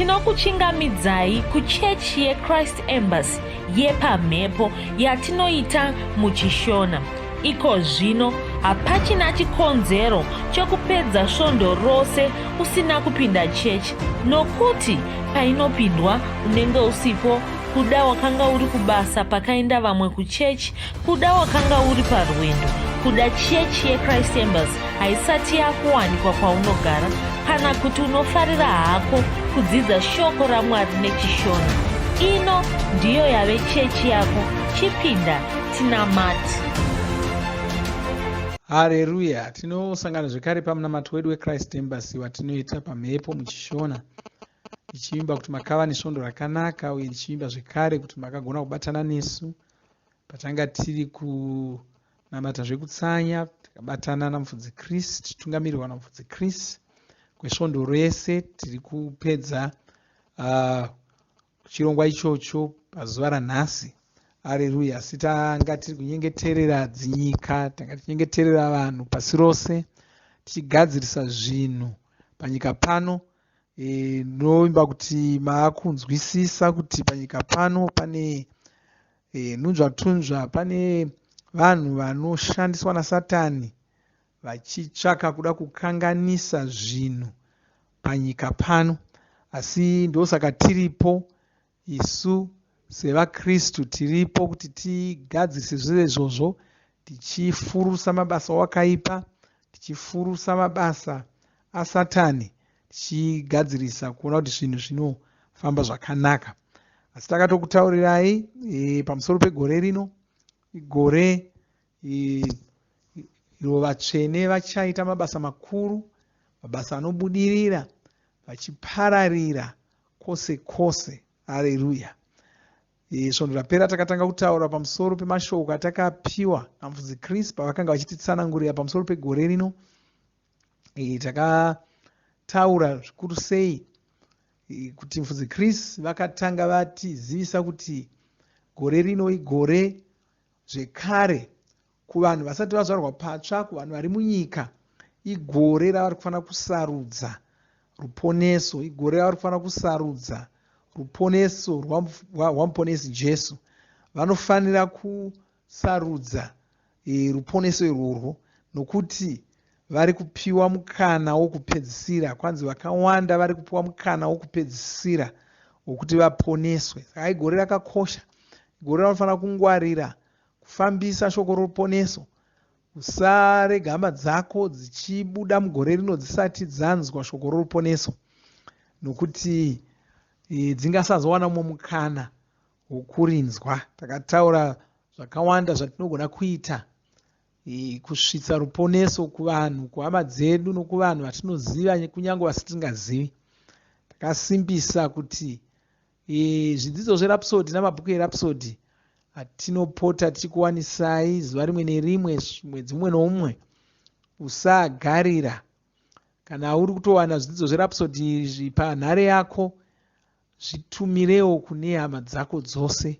Tinokuchingamidzai kuchechi yeChrist Embassy yepamhepo yatinoita muChishona. Iko zvino hapachina chikonzero chokupedza svondo rose usina kupinda chechi nokuti painopindwa unenge usipo kuda wakanga uri kubasa pakaenda vamwe kuchechi Kuda wakanga uri parwendo kuda chechi yechrist embers haisati yakuwanikwa kwaunogara kana kuti unofarira hako kudzidza shoko ramwari nechishona ino ndiyo yave chechi yako chipinda tinamati hareruya tinosangana zvekare pamunamato wedu wechrist embers watinoita pamhepo muchishona ndichivimba kuti makava nesvondo rakanaka uye ndichivimba zvekare kuti makagona kubatana nesu patanga tiri kunamata zvekutsanya takabatana namufudzi chris tichitungamirirwa namufudzi chris kwesvondo rese tiri kupedza uh, chirongwa ichocho pazuva ranhasi areruya asi tanga tiri kunyengeterera dzinyika tanga tichinyengeterera vanhu pasi rose tichigadzirisa zvinhu panyika pano uh, e, ndinoimba kuti maakunzwisisa kuti panyika pano pane e, nhunzvatunzva pane vanhu vanoshandiswa nasatani vachitsvaka kuda kukanganisa zvinhu panyika pano asi ndosaka tiripo Isu sevaKristu tiripo kuti tigadzise zvese izvozvo tichifurusa mabasa wakaipa, tichifurusa mabasa aSatani, tichigadzirisa kuona kuti zvinhu zvinofamba zvakanaka. Asi takatokutaurirai e, pamusoro pegore rino, igore e, iro vatsvene vachaita mabasa makuru, mabasa anobudirira, vachipararira kwose kwose. Hareruya! Eh, svondo rapera takatanga kutaura pamusoro pemashoko atakapiwa namufudzi chris pavakanga vachititsanangurira pamusoro pegore rino eh, takataura zvikuru sei eh, kuti mufudzi chris vakatanga vatizivisa kuti gore rino igore zvekare kuvanhu vasati vazvarwa patsva kuvanhu vari munyika igore ravari kufanira kusarudza ruponeso igore ravari kufanira kusarudza ruponeso rwamuponesi jesu vanofanira kusarudza e, ruponeso irworwo nokuti vari kupiwa mukana wokupedzisira kwanzi vakawanda vari kupiwa mukana wokupedzisira wokuti vaponeswe saka igore rakakosha igore ranofanira kungwarira kufambisa shoko roruponeso usarega hama dzako dzichibuda mugore rino dzisati dzanzwa shoko roruponeso nokuti e, dzingasazowana umwe mukana wokurinzwa takataura zvakawanda zvatinogona kuita e, kusvitsa ruponeso kuvanhu kuhama dzedu nokuvanhu vatinoziva kunyange vasitingazivi takasimbisa kuti E, zvidzidzo zverapsodi namabhuku erapsodi atinopota tiri kuwanisai zuva rimwe nerimwe mwedzi umwe noumwe usagarira kana uri kutowana zvidzidzo zverapsodi izvi panhare yako zvitumirewo kune hama dzako dzose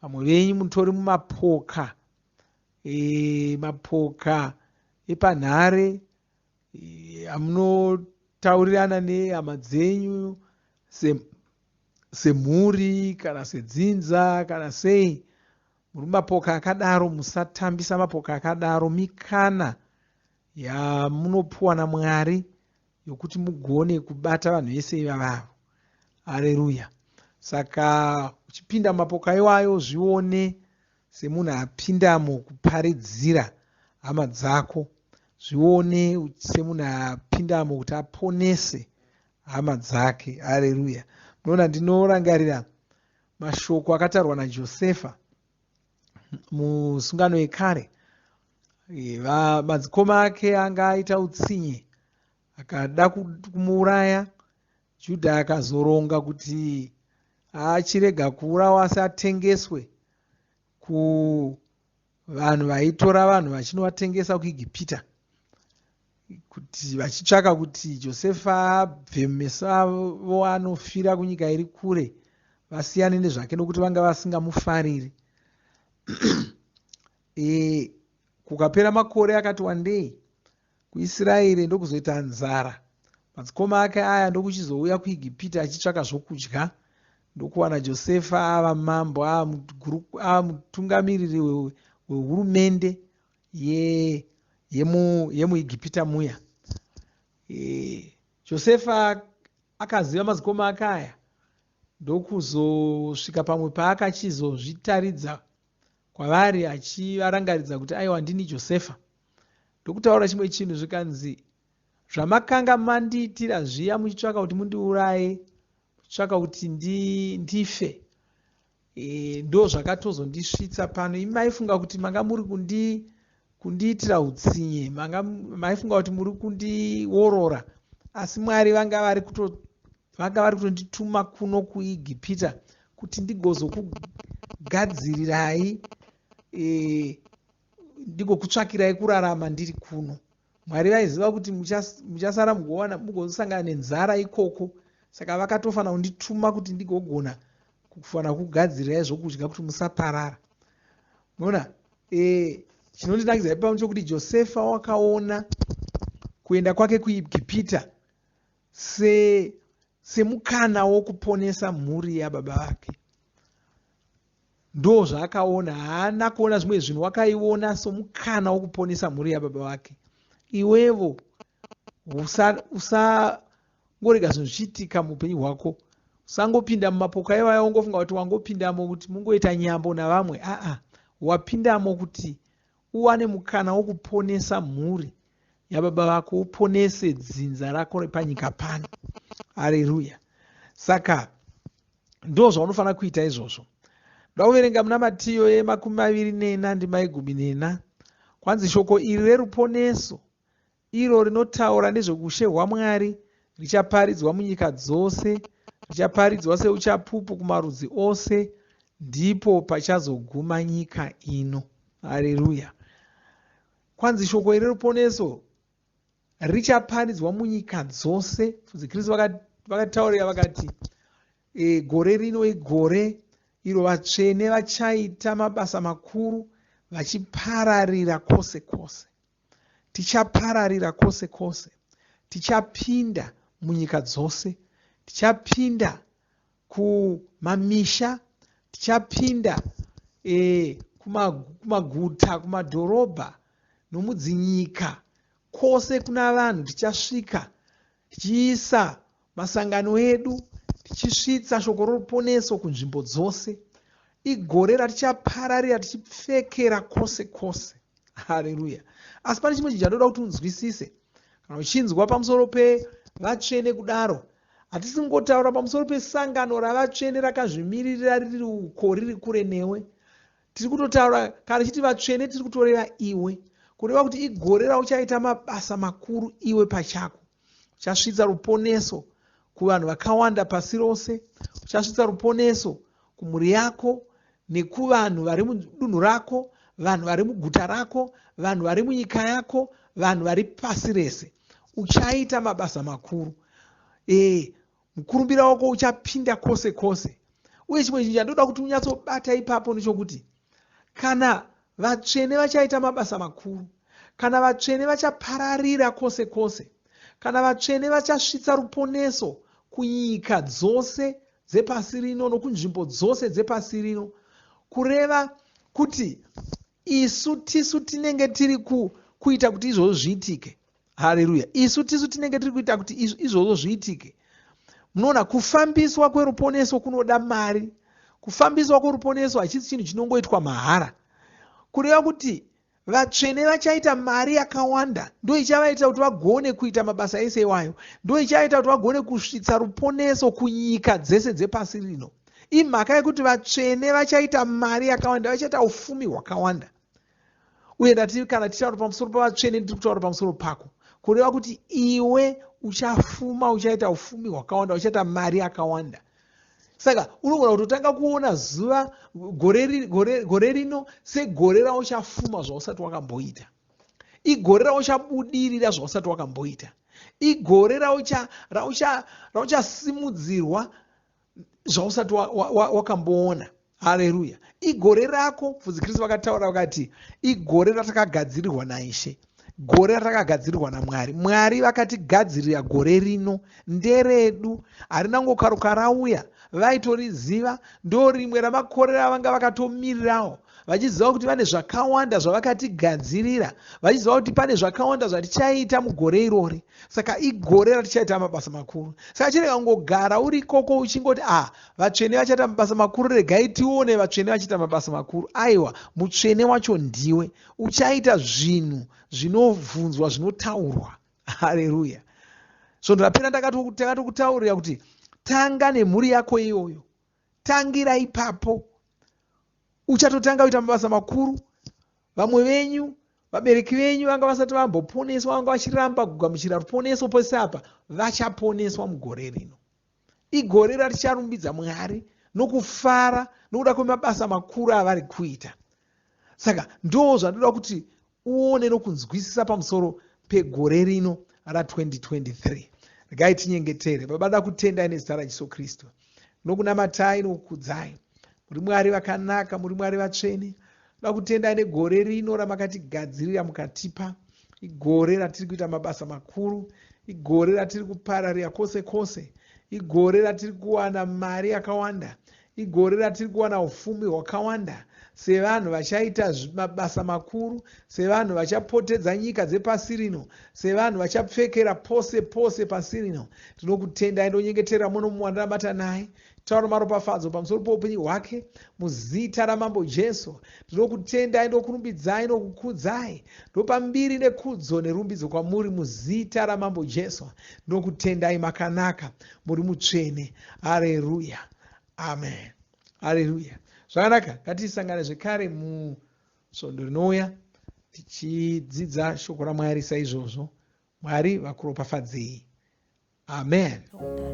vamwe venyu mutori mumapoka e, mapoka epanhare amunotaurirana nehama dzenyu semhuri kana sedzinza kana sei muri mapoka akadaro musatambisa mapoka akadaro mikana yamunopiwa namwari yokuti mugone kubata vanhu vese ivavavo hareruya saka uchipinda mapoka iwayo zvione Semunhu apindamo kuparidzira hama dzako zvione semunhu apindamo kuti aponese hama dzake. Hareruya. Munoona, ndinorangarira mashoko akataurwa naJosefa musungano yekare madzikoma ake anga aita utsinye akada kumuuraya Judha akazoronga kuti achirega kuurawa asi atengeswe kuvanhu vaitora vanhu vachinovatengesa kuigipita kuti vachitsvaka kuti josefa abve mumeso avo anofira kunyika iri kure vasiyane nezvake nokuti vanga vasingamufariri e, kukapera makore akati wandei kuIsiraeri ndokuzoita nzara, madzikoma ake aya ndokuchizouya kuIgipita achitsvaka zvokudya, ndokuwana Josefa ava mambo, ava mutungamiriri wehurumende yemuIgipita muya. E, Josefa akaziva madzikoma ake aya ndokuzosvika pamwe paakachizozvitaridza kwavari achivarangaridza kuti aiwa ndini josefa ndokutaura chimwe chinhu zvikanzi zvamakanga mandiitira zviya muchitsvaka kuti mundiuraye muchitsvaka kuti ndife e, ndo zvakatozondisvitsa pano imi maifunga kuti manga muri kundi kundiitira utsinye manga maifunga kuti muri kundiworora asi mwari vanga vari kuto vanga vari kutondituma kuno kuegipita kuti ndigozokugadzirirai e, ndigokutsvakirai kurarama ndiri kuno mwari vaiziva kuti muchasara mugowana mugosangana nenzara ikoko saka vakatofana kundituma kuti ndigogona kufana kugadzirirai zvokudya kuti musaparara mona e, chinondinakidza e, ipano chokuti josefa wakaona kuenda kwake kuegipita se semukana wokuponesa mhuri yababa vake ndoo zvaakaona haana kuona zvimwe zvinhu wakaiona somukana wokuponesa mhuri yababa vake iwevo usangorega zvinhu zvichiitika muupenyu hwako usangopinda mumapoka ivaya wongofunga kuti wangopindamo kuti mungoita nyambo navamwe aa wapindamo kuti uwane mukana wokuponesa mhuri yababa vako uponese dzinza rako repanyika pano hareruya saka ndo zvaunofanira kuita izvozvo ndoda kuverenga muna matiyo yemakumi maviri nena ndimaigumi nena kwanzi shoko iri reruponeso iro rinotaura nezvoushe hwaMwari richaparidzwa munyika dzose, richaparidzwa seuchapupu kumarudzi ose, ndipo pachazoguma nyika ino. Hareruya! Kwanzi shoko iri ruponeso richaparidzwa munyika dzose. Fudzi Kristu vakataurira vakati, e, gore rino igore iro vatsvene vachaita mabasa makuru vachipararira kwose kwose. Tichapararira kwose kwose. Tichapinda munyika dzose. Tichapinda kumamisha. Tichapinda e, kumaguta, kumadhorobha nomudzinyika. Kwose kuna vanhu tichasvika. Tichiisa masangano edu, tichisvitsa shoko roruponeso kunzvimbo dzose. Igore ratichapararira tichipfekera kwose kwose. Hareruya! Asi pane chimwe chinhu chandoda kuti unzwisise. Kana uchinzwa pamusoro pevatsvene kudaro, hatisi kungotaura pamusoro pesangano ravatsvene rakazvimiririra riri uko riri kure newe. Tiri kutotaura kana chiti vatsvene tiri kutoreva iwe kureva kuti igore rauchaita mabasa makuru iwe pachako uchasvitsa ruponeso kuvanhu vakawanda pasi rose uchasvitsa ruponeso kumhuri yako nekuvanhu vari mudunhu rako vanhu vari muguta rako vanhu vari munyika yako vanhu vari pasi rese uchaita mabasa makuru ee eh, mukurumbira wako uchapinda kwose kwose uye chimwe chinhu chandoda kuti unyatsobata ipapo nechokuti kana vatsvene vachaita mabasa makuru kana vatsvene vachapararira kwose kwose kana vatsvene vachasvitsa ruponeso kunyika dzose dzepasi rino nokunzvimbo dzose dzepasi rino kureva kuti isu tisu tinenge tiri ku, kuita kuti izvozvo zviitike hareruya isu tisu tinenge tiri kuita kuti izvozvo zviitike munoona kufambiswa kweruponeso kunoda mari kufambiswa kweruponeso hachisi chinhu chinongoitwa mahara kureva kuti vatsvene vachaita mari yakawanda ndo ichavaitira kuti vagone kuita mabasa ese iwayo ndo ichavaitira kuti vagone kusvitsa ruponeso kunyika dzese dzepasi rino imhaka yekuti vatsvene vachaita mari yakawanda vachaita ufumi hwakawanda uye ndati kana tichitaura pamusoro pavatsvene ndiri kutaura pamusoro pako kureva kuti iwe uchafuma uchaita ufumi hwakawanda uchaita mari yakawanda saka unogona kutotanga kuona zuva gore rino segore rauchafuma zvausati wakamboita igore rauchabudirira zvausati wakamboita igore rauchasimudzirwa zvausati wakamboona wa, wa, hareruya igore rako mfudzi kristu vakataura vakati igore ratakagadzirirwa naishe gore ratakagadzirirwa namwari mwari vakatigadzirira gore rino nderedu harina ngokaruka rauya vaitoriziva ndo rimwe ramakore ravanga vakatomirirawo vachiziva kuti vane zvakawanda zvavakatigadzirira vachiziva kuti pane zvakawanda zvatichaita mugore irori saka igore ratichaita mabasa makuru saka chirega kungogara uri ikoko uchingoti ah vatsvene vachaita mabasa makuru regai tione vatsvene vachiita mabasa makuru aiwa mutsvene wacho ndiwe uchaita zvinhu zvinobvunzwa zvinotaurwa hareruya svondo rapera takatokutaurira kuti tanga nemhuri yako iyoyo tangira ipapo uchatotanga kuita mabasa makuru vamwe venyu vabereki venyu vanga vasati vamboponeswa vanga vachiramba kugamuchira ruponeso pese apa vachaponeswa mugore rino igore raticharumbidza mwari nokufara nokuda kwemabasa makuru avari kuita saka ndoo zvandoda kuti uone nokunzwisisa pamusoro pegore rino ra 2023 regai tinyengetere baba da kutendai nezita rajesu kristu nokunamatai nokukudzai muri mwari vakanaka muri mwari vatsvene da kutendai negore rino ramakatigadzirira mukatipa igore ratiri kuita mabasa makuru igore ratiri kupararira kwose kwose igore ratiri kuwana mari yakawanda Igore ratiri kuwana ufumi hwakawanda sevanhu vachaita mabasa makuru, sevanhu vachapotedza nyika dzepasi rino, sevanhu vachapfekera pose pose pasi rino. Tinokutendai ndonyengetera muno muwandiramata naye taura maropafadzo pamusoro poupenyu hwake muzita ramambo jesu ndinokutendai ndokurumbidzai nokukudzai ndopa mbiri nekudzo nerumbidzo kwamuri muzita ramambo jesu ndinokutendai makanaka muri mutsvene hareruya amen haleluya zvakanaka ngatisangane zvekare musvondo rinouya tichidzidza shoko ramwari saizvozvo mwari vakuropafadzei amen oh,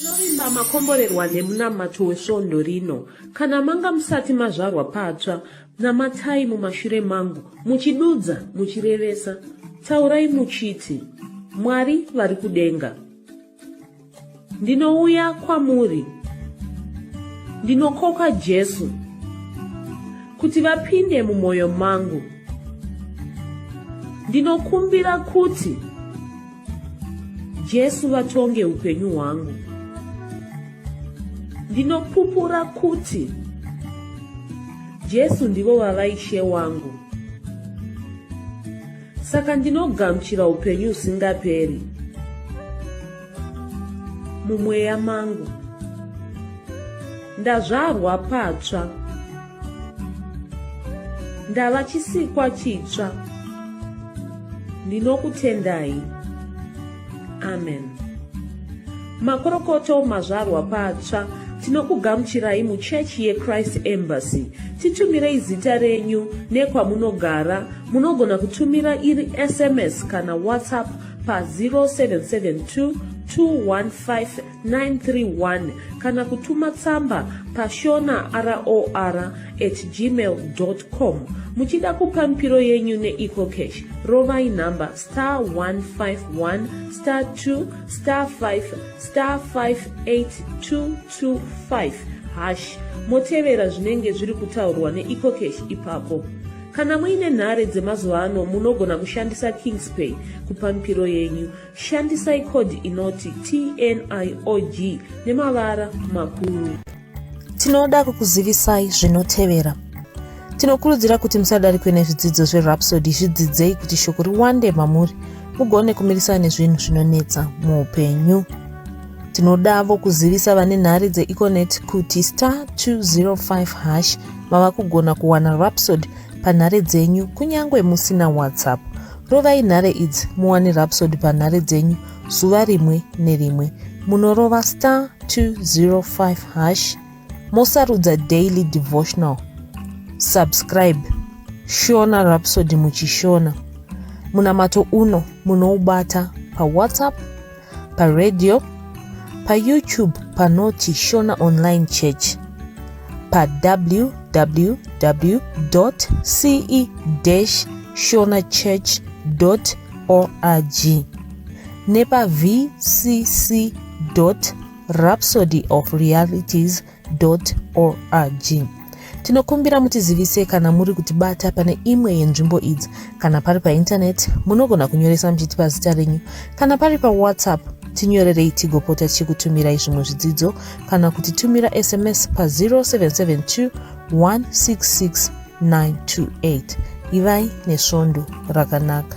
Tinovimba makomborerwa nemunamato wesvondo rino. Kana manga musati mazvarwa patsva, Namatai mumashure mangu, muchidudza, muchirevesa, taurai muchiti, Mwari vari kudenga. Ndinouya kwamuri, ndinokoka Jesu, kuti vapinde mumwoyo mangu. Ndinokumbira kuti Jesu vatonge upenyu hwangu. Ndinopupura kuti Jesu ndivo vava ishe wangu. Saka ndinogamuchira upenyu usingaperi mumweya mangu. Ndazvarwa patsva. ndava chisikwa chitsva ndinokutendai amen makorokoto mazvarwa patsva tinokugamuchirai muchechi yechrist embassy titumirei zita renyu nekwamunogara munogona kutumira iri sms kana whatsapp pa 0772 215 931 kana kutuma tsamba pashona ror at gmail com muchida kupa mipiro yenyu neecocash rovai nhamba star 151 star 2 star 5 star 58225 hash motevera zvinenge zviri kutaurwa neecocash ipapo kana muine nhare dzemazuva ano munogona kushandisa kingspay kupa mipiro yenyu Shandisai code inoti TNIOG nemavara makuru. Tinoda kukuzivisai zvinotevera. Tinokurudzira kuti musadarikwe nezvidzidzo zveRhapsody zvidzidzei kuti shoko riwande mamuri mugone kumirisana nezvinhu zvinonetsa muupenyu. Tinodavo kuzivisa vane nhare dzeEconet kuti star 205 hash mava kugona kuwana Rhapsody panhare dzenyu kunyange musina WhatsApp. Rovai nhare idzi muwane Rhapsody panhare dzenyu zuva rimwe nerimwe. Munorova star 205 hash mosarudza daily devotional. Subscribe Shona Rhapsody muchishona. Munamato uno munoubata paWhatsApp paradio payoutube panoti shona online church pawww ce shona church org nepavcc rhapsody of realities org tinokumbira mutizivise kana muri kutibata pane imwe yenzvimbo idzi kana pari paintaneti munogona kunyoresa muchitipa zita renyu kana pari pawhatsapp tinyorerei tigopota tichikutumirai zvimwe zvidzidzo kana kuti tumira sms pa0772 166 928 ivai nesvondo rakanaka